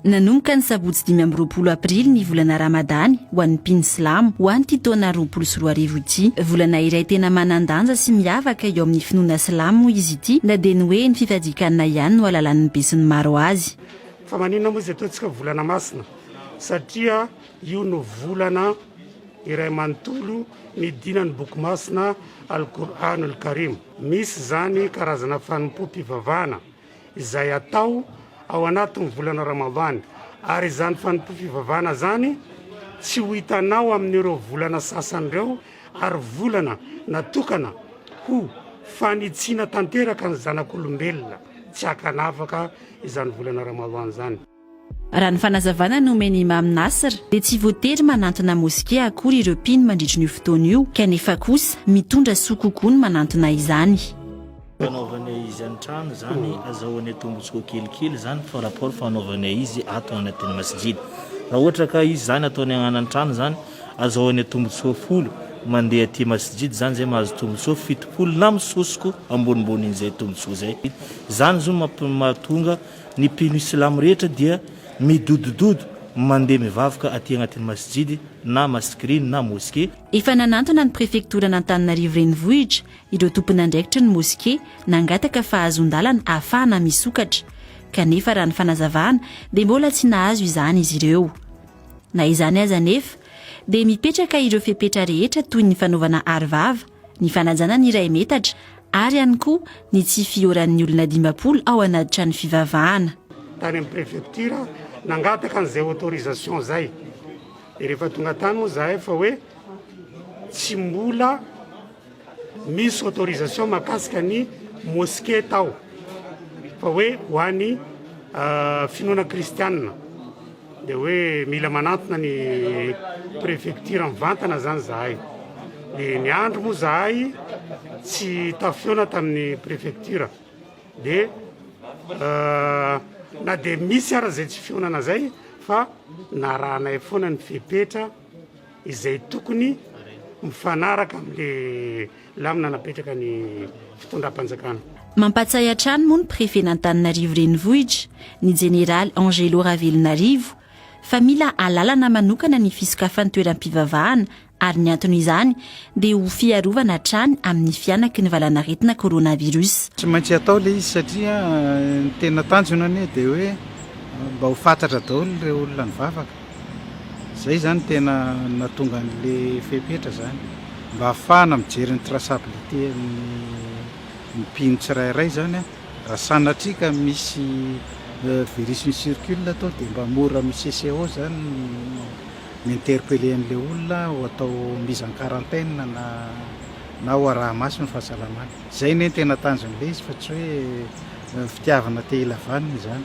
Nanomboka ny sabotsy dimy amby roapolo aprily ny volana ramadany ho an'ny mpino silamo ho an'ity taona roapolo sy roa arivo ity. Volana iray tena manan-danja sy miavaka eo amin'ny finoana silamo moa izy ity na dia ny hoe ny fifadian-kanina ihany no ahalalan'ny besinimaro azy. Fa maninona moa izy ataontsika volana masina? Satria Io no volana iray manontolo midina ny Boky Masina Al-Qur'an Al-Karim. Misy izany karazana fanompoam-pivavahana izay atao ao anatin'ny volana Ramadany, ary izany fanompoam-pivavahana izany tsy ho hitanao amin'ireo volana sasany ireo, ary volana natokana ho fanitsiana tanteraka ny zanak'olombelona, tsy hakanafaka izany volana Ramadany izany. Raha ny fanazavana nomen'i Imam Nasr dia tsy voatery manantona moskea akory ireo mpino mandritry ny io fotoana io kanefa kosa mitondra soa kokoa ny manantona izany. Fanaovana izy an-trano izany azahoana tombotsoa kelikely izany par rapport fanaovana izy ato anatin'ny masjid. Raha ohatra ka izy izany ataony agnana an-trano izany azahoana tombotsoa folo, mandeha aty masjid izany izay mahazo tombotsoa fitopolo na misosoko ambonimbony an'izay tombotsoa izay. Izany zo mahatonga Ny mpino silamo rehetra dia midodododo mandeha mivavaka aty agnatin'ny masjidy na masikiriny na mosquée. Efa nanantona ny prefektoran'Antananarivo Renivohitra ireo tompon'andraikitry ny moske nangataka fahazon-dalana hahafahana misokatra, kanefa raha ny fanazavana dia mbola tsy nahazo izany izy ireo. Na izany aza anefa dia mipetraka ireo fepetra rehetra toy ny fanaovana aro vava, ny fanajana ny iray metatra ary ihany koa ny tsy fihoran'ny olona dimampolo ao anaty trano fivavahana. Tany amin'ny prefecture nangataka an'izay autorisation izay, dia rehefa tonga tany moa izahay fa hoe tsy mbola misy autorisation mahakasika ny mosquée tao fa hoe ho an'ny finoana kristianina. Dia hoe mila manantona ny prefecture mivantana izany zahay. Dia ny andro moa zahay tsy tafiona tamin'ny prefecture. Dia euh, na dia misy ara izay tsy fionana izay fa narahanay foana ny fepetra. izay tokony mifanaraka amin'ilay lamina napetraka ny fitondram-panjakana. Mampatsiahy hatrany moa ny Prefen'Antananarivo Renivohitra, ny Jeneraly Angelo Ravelonarivo, fa mila alalana manokana ny fisokafan'ny toeram-pivavahana ary ny anton'izany dia ho fiarovana hatrany amin'ny fihanaky ny valanaretina coronavirus. Tsy maintsy hatao ilay izy satria ny tena tanjona anie dia hoe mba ho fatratra daholo ireo olona nivavaka. Izay izany tena nahatonga an'le fepetra zany mba hahafahana mijery ny traçabilité amin'ny ny mpino tsirairay zany a, raha sanatria ka misy virus mi circule ato dia mba mora amin'ny CCO zany ny mi interpeller an'le olona ho atao mise en quarantaine na na ho araha maso ny fahasalamany. Izay anie ny tena tanjon'le izy fa tsy hoe fitiavana te hilavanina izany.